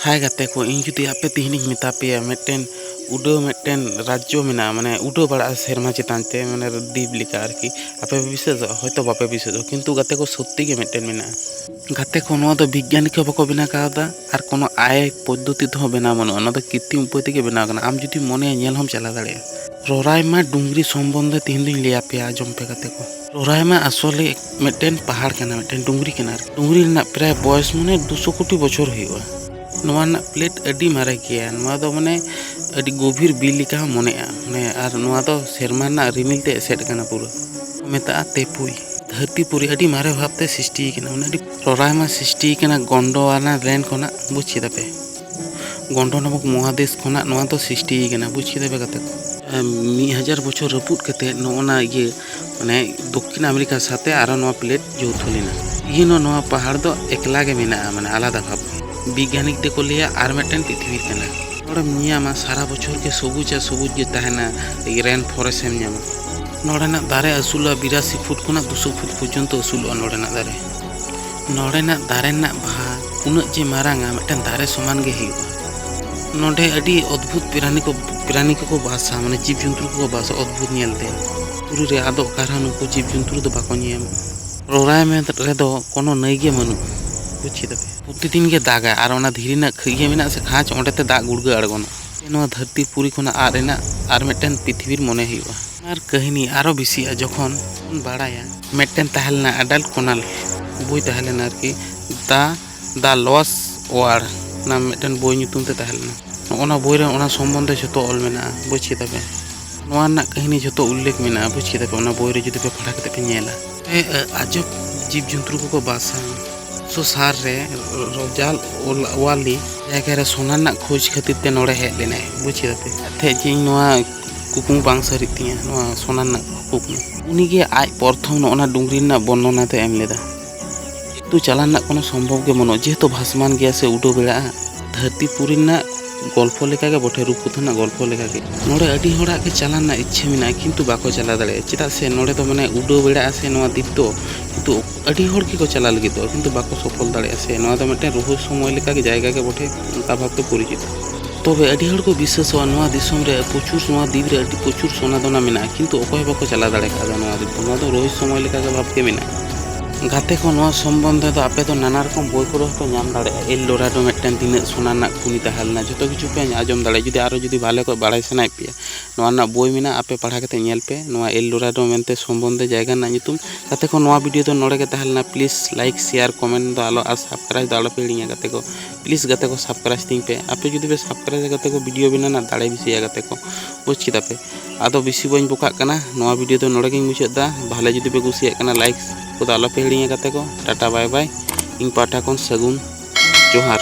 ᱦᱟᱭ ᱜᱟᱛᱮ ᱠᱚ ᱤᱧ ᱡᱩᱫᱤ ᱟᱯᱮ ᱛᱮᱦᱮᱧᱤᱧ ᱢᱮᱛᱟ ᱯᱮᱭᱟ ᱢᱤᱫᱴᱮᱱ ᱩᱰᱟᱹᱣ ᱢᱤᱫᱴᱮᱱ ᱨᱟᱡᱽᱡᱚ ᱢᱮᱱᱟᱜᱼᱟ ᱢᱟᱱᱮ ᱩᱰᱟᱹᱣ ᱵᱟᱲᱟᱜᱼᱟ ᱥᱮᱨᱢᱟ ᱪᱮᱛᱟᱱ ᱛᱮ ᱢᱟᱱᱮ ᱫᱤᱯ ᱞᱮᱠᱟ ᱟᱨᱠᱤ ᱟᱯᱮ ᱯᱮ ᱵᱤᱥᱟᱹᱥᱚᱜᱼᱟ ᱦᱚᱭᱛᱳ ᱵᱟᱯᱮ ᱵᱤᱥᱟᱹᱥᱚᱜᱼᱟ ᱠᱤᱱᱛᱩ ᱜᱟᱛᱮ ᱠᱚ ᱥᱚᱛᱛᱤ ᱜᱮ ᱢᱤᱫᱴᱮᱱ ᱢᱮᱱᱟᱜᱼᱟ ᱜᱟᱛᱮ ᱠᱚ ᱱᱚᱣᱟ ᱫᱚ ᱵᱤᱜᱽᱜᱟᱱᱤᱠ ᱦᱚᱸ ᱵᱟᱠᱚ ᱵᱮᱱᱟᱣ ᱠᱟᱣᱫᱟ ᱟᱨ ᱠᱳᱱᱳ ᱟᱭ ᱯᱚᱫᱽᱫᱷᱚᱛᱤ ᱛᱮᱦᱚᱸ ᱵᱮᱱᱟᱣ ᱵᱟᱹᱱᱩᱜᱼᱟ ᱱᱚᱣᱟ ᱫᱚ ᱠᱨᱤᱛᱤᱢ ᱩᱯᱟᱹᱭ ᱛᱮᱜᱮ ᱵᱮᱱᱟᱣ ᱠᱟᱱᱟ ᱟᱢ ᱡᱩᱫᱤᱢ ᱢᱚᱱᱮᱭᱟ ᱧᱮᱞ ᱦᱚᱸᱢ ᱪᱟᱞᱟᱣ ᱫᱟᱲᱮᱭᱟᱜᱼᱟ ᱨᱚᱨᱟᱭᱢᱟ ᱰᱩᱝᱨᱤ ᱥᱚᱢᱵᱚᱱᱫᱷᱮ ᱛᱮᱦᱮᱧ ᱫᱚᱧ ᱞᱟᱹᱭ ᱟᱯᱮᱭᱟ ᱟᱸᱡᱚᱢ ᱯᱮ ᱜᱟᱛᱮ ᱠᱚ ᱨᱚᱨᱟᱭᱢᱟ ᱟᱥᱚᱞᱮ ᱢᱤᱫᱴᱮᱱ ᱯᱟᱦᱟᱲ ᱠᱟᱱᱟ ᱢᱤᱫᱴᱮᱱ ᱰᱩᱝᱨᱤ ᱠᱟᱱᱟ ᱟᱨᱠᱤ ᱰᱩᱝᱨᱤ ᱨᱮᱱᱟᱜ ᱯᱨᱟᱭ ᱵᱚᱭᱚᱥ ᱢᱟᱱᱮ ᱫᱩᱥᱚ ᱠᱳᱴᱤ ᱵᱚᱪᱷᱚᱨ ᱦᱩᱭᱩᱜᱼᱟ ᱱᱚᱣᱟ ᱨᱮᱱᱟᱜ ᱯᱞᱮᱴ ᱟᱹᱰᱤ ᱢᱟᱨᱮ ᱜᱮᱭᱟ ᱱᱚᱣᱟ ᱫᱚ ᱢᱟᱱᱮ ᱟᱹᱰᱤ ᱜᱚᱵᱷᱤᱨ ᱵᱤᱨ ᱞᱮᱠᱟ ᱦᱚᱸ ᱢᱚᱱᱮᱜᱼᱟ ᱢᱟᱱᱮ ᱟᱨ ᱱᱚᱣᱟ ᱫᱚ ᱥᱮᱨᱢᱟ ᱨᱮᱱᱟᱜ ᱨᱤᱢᱤᱞ ᱛᱮ ᱮᱥᱮᱫ ᱟᱠᱟᱱᱟ ᱯᱩᱨᱟᱹ ᱢᱮᱛᱟᱜᱼᱟ ᱛᱮᱯᱩᱭ ᱫᱷᱟᱹᱨᱛᱤ ᱯᱩᱨᱤ ᱟᱹᱰᱤ ᱢᱟᱨᱮ ᱵᱷᱟᱵᱽᱛᱮ ᱥᱨᱤᱥᱴᱤ ᱟᱠᱟᱱᱟ ᱢᱟᱱᱮ ᱟᱹᱰᱤ ᱨᱚᱨᱟᱭᱢᱟ ᱥᱨᱤᱥᱴᱤ ᱟᱠᱟᱱᱟ ᱜᱚᱱᱰᱚᱣᱟᱱᱟ ᱞᱮᱱ ᱠᱷᱚᱱᱟᱜ ᱵᱩᱡᱽ ᱠᱮᱫᱟ ᱯᱮ ᱜᱚᱱᱰᱚ ᱱᱟᱢᱚᱠ ᱢᱚᱦᱟᱫᱮᱥ ᱠᱷᱚᱱᱟᱜ ᱱᱚᱣᱟ ᱫᱚ ᱥᱨᱤᱥᱴᱤ ᱟᱠᱟᱱᱟ ᱵᱩᱡᱽ ᱠᱮᱫᱟ ᱯᱮ ᱜᱟᱛᱮ ᱠᱚ ᱢᱤᱫ ᱦᱟᱡᱟᱨ ᱵᱚᱪᱷᱚᱨ ᱨᱟᱹᱯᱩᱫ ᱠᱟᱛᱮᱫ ᱱᱚᱜᱼᱚ ᱱᱟ ᱤᱭᱟᱹ ᱢᱟᱱᱮ ᱫᱚᱠᱠᱷᱤᱱ ᱟᱢᱮᱨᱤᱠᱟ ᱥᱟᱛᱮ ᱟᱨᱦᱚᱸ ᱱᱚᱣᱟ ᱯᱞᱮᱴ ᱡᱳᱣᱛᱷᱚ ᱞᱮᱱᱟ ᱤᱦᱤᱱ ᱦᱚᱸ ᱱᱚᱣᱟ ᱯᱟᱦᱟᱲ ᱫᱚ ᱮᱠᱞᱟ ᱜᱮ ᱢᱮᱱᱟᱜᱼᱟ ᱢᱟᱱᱮ ᱟᱞᱟᱫᱟ ᱵᱷᱟᱵᱽ ᱵᱤᱜᱽᱜᱟᱱᱤᱠ ᱫᱚᱠᱚ ᱞᱟᱹᱭᱟ ᱟᱨ ᱢᱤᱫᱴᱮᱱ ᱯᱨᱤᱛᱷᱤᱵᱤ ᱠᱟᱱᱟ ᱱᱚᱰᱮᱢ ᱧᱮᱧᱟᱢᱟ ᱥᱟᱨᱟ ᱵᱚᱪᱷᱚᱨ ᱜᱮ ᱥᱚᱵᱩᱡᱽ ᱟᱨ ᱥᱚᱵᱩᱡᱽ ᱜᱮ ᱛᱟᱦᱮᱱᱟ ᱨᱮᱱ ᱯᱷᱚᱨᱮᱥᱴ ᱮᱢ ᱧᱟᱢᱟ ᱱᱚᱰᱮᱱᱟᱜ ᱫᱟᱨᱮ ᱟᱹᱥᱩᱞᱚᱜᱼᱟ ᱵᱤᱨᱟᱥᱤ ᱯᱷᱩᱴ ᱠᱷᱚᱱᱟᱜ ᱫᱩᱥᱚ ᱯᱷᱩᱴ ᱯᱚᱨᱡᱚᱱᱛᱚ ᱟᱹᱥᱩᱞᱚᱜᱼᱟ ᱱᱚᱰᱮᱱᱟᱜ ᱫᱟᱨᱮ ᱱᱚᱰᱮᱱᱟᱜ ᱫᱟᱨᱮ ᱨᱮᱱᱟᱜ ᱵᱟᱦᱟ ᱩᱱᱟᱹᱜ ᱡᱮ ᱢᱟᱨᱟᱝᱟ ᱢᱤᱫᱴᱟᱝ ᱫᱟᱨᱮ ᱥᱚᱢᱟᱱ ᱜᱮ ᱦᱩᱭᱩᱜᱼᱟ ᱱᱚᱰᱮ ᱟᱹᱰᱤ ᱚᱫᱽᱵᱷᱩᱛ ᱯᱨᱟᱱᱤ ᱠᱚ ᱯᱨᱟᱱᱤ ᱠᱚᱠᱚ ᱵᱟᱥᱟ ᱢᱟᱱᱮ ᱡᱤᱵᱽ ᱡᱚᱱᱛᱩ ᱠᱚᱠᱚ ᱵᱟᱥᱟ ᱚᱫᱽᱵᱷᱩᱛ ᱧᱮᱞᱛᱮ ᱵᱩᱨᱩ ᱨᱮ ᱟᱫᱚ ᱚᱠᱟ ᱨᱮᱦᱚᱸ ᱱᱩᱠᱩ ᱡᱤᱵᱽ ᱡᱚᱱᱛᱩ ᱫᱚ ᱵᱟᱠᱚ ᱧᱮᱞ ᱧᱟᱢᱚᱜᱼᱟ ᱨᱚᱨᱟᱭ ᱢᱮᱫ ᱨᱮᱫᱚ ᱠᱳᱱᱳ ᱱᱟᱹᱭ ᱜᱮ ᱵᱟᱹᱱᱩᱜᱼᱟ ᱵᱩᱡᱽ ᱠᱮᱫᱟ ᱯᱮ ᱯᱨᱚᱛᱤᱫᱤᱱ ᱜᱮ ᱫᱟᱜᱟᱭ ᱟᱨ ᱚᱱᱟ ᱫᱷᱤᱨᱤ ᱨᱮᱱᱟᱜ ᱤᱭᱟᱹ ᱢᱮᱱᱟᱜᱼᱟ ᱥᱮ ᱠᱷᱟᱸᱪ ᱚᱸᱰᱮ ᱛᱮ ᱫᱟᱜ ᱜᱩᱲᱜᱟᱹ ᱟᱬᱜᱚᱱᱟ ᱱᱚᱣᱟ ᱫᱷᱟᱹᱨᱛᱤ ᱯᱩᱨᱤ ᱠᱷᱚᱱᱟᱜ ᱟᱫ ᱮᱱᱟ ᱟᱨ ᱢᱤᱫᱴᱟᱝ ᱯᱨᱤᱛᱷᱤᱵᱤᱨ ᱢᱚᱱᱮ ᱦᱩᱭᱩᱜᱼᱟ ᱟᱨ ᱠᱟᱹᱦᱱᱤ ᱟᱨᱚ ᱵᱮᱥᱤᱜᱼᱟ ᱡᱚᱠᱷᱚᱱ ᱵᱚᱱ ᱵᱟᱲᱟᱭᱟ ᱢᱤᱫᱴᱮᱱ ᱛᱟᱦᱮᱸ ᱞᱮᱱᱟ ᱟᱰᱟᱞ ᱠᱚᱱᱟᱞ ᱵᱳᱭ ᱛᱟᱦᱮᱸ ᱞᱮᱱᱟ ᱟᱨᱠᱤ ᱫᱟ ᱫᱟ ᱞᱚᱥ ᱚᱣᱟᱨ ᱚᱱᱟ ᱢᱤᱫᱴᱮᱱ ᱵᱳᱭ ᱧᱩᱛᱩᱢ ᱛᱮ ᱛᱟᱦᱮᱸ ᱞᱮᱱᱟ ᱱᱚᱜᱼᱚ ᱱᱚᱣᱟ ᱵᱳᱭ ᱨᱮ ᱚᱱᱟ ᱥᱚᱢᱵᱚᱱᱫᱷᱮ ᱡᱷᱚᱛᱚ ᱚᱞ ᱢᱮᱱᱟᱜᱼᱟ ᱵᱩᱡᱽ ᱠᱮᱫᱟ ᱯᱮ ᱱᱚᱣᱟ ᱨᱮᱱᱟᱜ ᱠᱟᱹᱦᱱᱤ ᱡᱷᱚᱛᱚ ᱩᱞᱞᱮᱠᱷ ᱢᱮᱱᱟᱜᱼᱟ ᱵᱩᱡᱽ ᱠᱮᱫᱟ ᱯᱮ ᱚᱱᱟ ᱵᱳᱭ ᱨᱮ ᱡᱩᱫᱤ ᱯᱮ ᱯᱟᱲᱦᱟᱣ ᱠᱟᱛᱮ ᱯᱮ ᱧᱮᱞᱟ ᱟᱡᱚᱵ ᱡᱤᱵᱽ ᱡᱚᱱᱛᱨᱩ ᱠᱚᱠᱚ ᱵᱟᱥᱟ ᱥᱚᱥᱟᱨ ᱨᱮ ᱨᱚᱡᱟᱞ ᱚᱣᱟᱞᱤ ᱡᱟᱭᱜᱟ ᱨᱮ ᱥᱚᱱᱟ ᱨᱮᱱᱟᱜ ᱠᱷᱳᱡᱽ ᱠᱷᱟᱹᱛᱤᱨ ᱛᱮ ᱱᱚᱰᱮ ᱦᱮᱡ ᱞᱮᱱᱟᱭ ᱵᱩᱡᱽ ᱠᱮᱫᱟ ᱯᱮ ᱛᱮᱦᱮᱧ ᱱᱚᱣᱟ ᱠᱩᱠᱢᱩ ᱵᱟᱝ ᱥᱟᱹᱨᱤᱜ ᱛᱤᱧᱟᱹ ᱱᱚᱣᱟ ᱥᱚᱱᱟ ᱨᱮᱱᱟᱜ ᱠᱩᱠᱢᱩ ᱩᱱᱤᱜᱮ ᱟᱡ ᱯᱨᱚᱛᱷᱚᱢ ᱱᱚᱜᱼᱚ ᱱᱟ ᱰᱩᱝᱨᱤ ᱨᱮᱱᱟᱜ ᱵᱚᱨᱱᱚᱱᱟ ᱫᱚᱭ ᱮᱢ ᱞᱮᱫᱟ ᱛᱚ ᱪᱟᱞᱟᱣ ᱨᱮᱱᱟᱜ ᱠᱳᱱᱳ ᱥᱚᱢᱵᱷᱚᱵᱽ ᱜᱮ ᱵᱟᱹᱱᱩᱜᱼᱟ ᱡᱮᱦᱮᱛᱩ ᱵᱷᱟᱥᱢᱟᱱ ᱜᱮᱭᱟ ᱥᱮ ᱩᱰᱟᱹᱣ ᱵᱮᱲᱟᱜᱼᱟ ᱫᱷᱟᱹᱨᱛᱤ ᱯᱩᱨᱤ ᱨᱮᱱᱟᱜ ᱜᱚᱞᱯᱷᱚ ᱞᱮᱠᱟᱜᱮ ᱵᱚᱴᱷᱮ ᱨᱩᱯᱠᱚᱛᱷᱟ ᱨᱮᱱᱟᱜ ᱜᱚᱞᱯᱷᱚ ᱞᱮᱠᱟᱜᱮ ᱱᱚᱰᱮ ᱟᱹᱰᱤ ᱦᱚᱲᱟᱜ ᱜᱮ ᱪᱟᱞᱟᱣ ᱨᱮᱱᱟᱜ ᱤᱪᱪᱷᱟᱹ ᱢᱮᱱᱟᱜᱼᱟ ᱠᱤᱱᱛᱩ ᱵᱟᱠᱚ ᱪᱟᱞᱟᱣ ᱫᱟᱲᱮᱭᱟᱜᱼᱟ ᱪᱮᱫᱟᱜ ᱥᱮ ᱱᱚᱰᱮ ᱫᱚ ᱢᱟᱱᱮ ᱩᱰᱟᱹᱣ ᱵᱮᱲᱟᱜᱼᱟ ᱥᱮ ᱱᱚᱣᱟ ᱫᱤᱯ ᱫᱚ ᱠᱤᱱᱛᱩ ᱟᱹᱰᱤ ᱦᱚᱲ ᱜᱮᱠᱚ ᱪᱟᱞᱟᱜ ᱞᱟᱹᱜᱤᱫᱚᱜᱼᱟ ᱠᱤᱱᱛᱩ ᱵᱟᱠᱚ ᱥᱚᱯᱷᱚᱞ ᱫᱟᱲᱮᱭᱟᱜᱼᱟ ᱥᱮ ᱱᱚᱣᱟ ᱫᱚ ᱢᱤᱫᱴᱮᱱ ᱨᱚᱦᱚᱥᱚᱢᱚᱭ ᱞᱮᱠᱟᱜᱮ ᱡᱟᱭᱜᱟ ᱜᱮ ᱵᱚᱴᱷᱮ ᱚᱱᱠᱟ ᱵᱷᱟᱵᱽᱛᱮ ᱯᱚᱨᱤᱪᱤᱛᱚ ᱛᱚᱵᱮ ᱟᱹᱰᱤ ᱦᱚᱲ ᱠᱚ ᱵᱤᱥᱥᱟᱹᱥᱚᱜᱼᱟ ᱱᱚᱣᱟ ᱫᱤᱥᱚᱢ ᱨᱮ ᱯᱨᱚᱪᱩᱨ ᱱᱚᱣᱟ ᱫᱤᱯ ᱨᱮ ᱟᱹᱰᱤ ᱯᱨᱚᱪᱩᱨ ᱥᱚᱱᱟ ᱫᱚᱱᱟ ᱢᱮᱱᱟᱜᱼᱟ ᱠᱤᱱᱛᱩ ᱚᱠᱚᱭ ᱦᱚᱸ ᱵᱟᱠᱚ ᱪᱟᱞᱟᱣ ᱫᱟᱲᱮ ᱠᱟᱣᱫᱟ ᱱᱚᱣᱟ ᱫᱤᱯ ᱫᱚ ᱱᱚᱣᱟ ᱫᱚ ᱨᱚᱦᱚᱥᱚᱢᱚᱭ ᱞᱮᱠᱟᱜᱮ ᱵᱷᱟᱵᱽᱛᱮ ᱢᱮᱱᱟᱜᱼᱟ ᱜᱟᱛᱮ ᱠᱚ ᱱᱚᱣᱟ ᱥᱚᱢᱵᱚᱱᱫᱷᱮ ᱫᱚ ᱟᱯᱮ ᱫᱚ ᱱᱟᱱᱟ ᱨᱚᱠᱚᱢ ᱵᱳᱭ ᱠᱚᱨᱮ ᱦᱚᱸᱯᱮ ᱧᱟᱢ ᱫᱟᱲᱮᱭᱟᱜᱼᱟ ᱮᱞ ᱰᱳᱨᱟᱰᱳ ᱢᱤᱫᱴᱮᱱ ᱛᱤᱱᱟᱹᱜ ᱥᱚᱱᱟ ᱨᱮᱱᱟᱜ ᱠᱷᱩᱱᱤ ᱛᱟᱦᱮᱸ ᱞᱮᱱᱟ ᱡᱚᱛᱚ ᱠᱤᱪᱷᱩ ᱯᱮ ᱟᱸᱡᱚᱢ ᱫᱟᱲᱮᱭᱟᱜᱼᱟ ᱡᱩᱫᱤ ᱟᱨᱚ ᱡᱩᱫᱤ ᱵᱷᱟᱞᱮ ᱠᱚ ᱵᱟᱲᱟᱭ ᱥᱟᱱᱟᱭᱮᱫ ᱯᱮᱭᱟ ᱱᱚᱣᱟ ᱨᱮᱱᱟᱜ ᱵᱳᱭ ᱢᱮᱱᱟᱜᱼᱟ ᱟᱯᱮ ᱯᱟᱲᱦᱟᱣ ᱠᱟᱛᱮ ᱧᱮᱞ ᱯᱮ ᱱᱚᱣᱟ ᱮᱞ ᱰᱳᱨᱟᱰᱳ ᱢᱮᱱᱛᱮ ᱥᱚᱢᱵᱚᱱᱫᱷᱮ ᱡᱟᱭᱜᱟ ᱨᱮᱱᱟᱜ ᱧᱩᱛᱩᱢ ᱜᱟᱛᱮ ᱠᱚ ᱱᱚᱣᱟ ᱵᱷᱤᱰᱤᱭᱳ ᱫᱚ ᱱᱚᱰᱮ ᱜᱮ ᱛᱟᱦᱮᱸ ᱞᱮᱱᱟ ᱯᱞᱤᱡᱽ ᱞᱟᱭᱤᱠ ᱥᱮᱭᱟᱨ ᱠᱚᱢᱮᱱᱴ ᱫᱚ ᱟᱞᱚ ᱟᱨ ᱥᱟᱵᱥᱠᱨᱟᱭᱤᱵᱽ ᱫᱚ ᱟᱞᱚᱯᱮ ᱦᱤᱲᱤᱧᱟ ᱜᱟᱛᱮ ᱠᱚ ᱯᱞᱤᱡᱽ ᱜᱟᱛᱮ ᱠᱚ ᱥᱟᱵᱥᱠᱨᱟᱭᱤᱵᱽ ᱛᱤᱧ ᱯᱮ ᱟᱯᱮ ᱡᱩᱫᱤ ᱯᱮ ᱥᱟᱵᱥᱠᱨᱟᱭᱤᱵᱽ ᱜᱟᱛᱮ ᱠᱚ ᱵᱷᱤᱰᱤᱭᱳ ᱵᱮᱱᱟᱣ ᱨᱮᱱᱟᱜ ᱫᱟᱲᱮ ᱵᱮᱥᱤᱜᱼᱟ ᱜᱟᱛᱮ ᱠᱚ ᱵᱩᱡᱽ ᱠᱮᱫᱟ ᱯᱮ ᱟᱫᱚ ᱵᱮᱥᱤ ᱵᱟᱹᱧ ᱵᱚᱠᱟᱜ ᱠᱟᱱᱟ ᱱᱚᱣᱟ ᱵᱷᱤᱰᱤᱭᱳ ᱫᱚ ᱱᱚᱰᱮ ᱜᱤᱧ ᱢᱩᱪᱟᱹᱫ ᱮᱫᱟ ᱵᱷᱟᱞᱮ ᱡᱩᱫᱤ ᱯᱮ ᱠᱩᱥᱤᱭᱟᱜ ᱠᱟᱱᱟ ᱞᱟᱭᱤᱠ ᱠᱚᱫᱚ ᱟᱞᱚᱯᱮ ᱦᱤᱲᱤᱧᱟ ᱜᱟᱛᱮ ᱠᱚ ᱴᱟᱴᱟ ᱵᱟᱭ ᱵᱟᱭ ᱤᱧ ᱯᱟᱦᱴᱟ ᱠᱷᱚᱱ ᱥᱟᱹᱜᱩᱱ ᱡᱚᱦᱟᱨ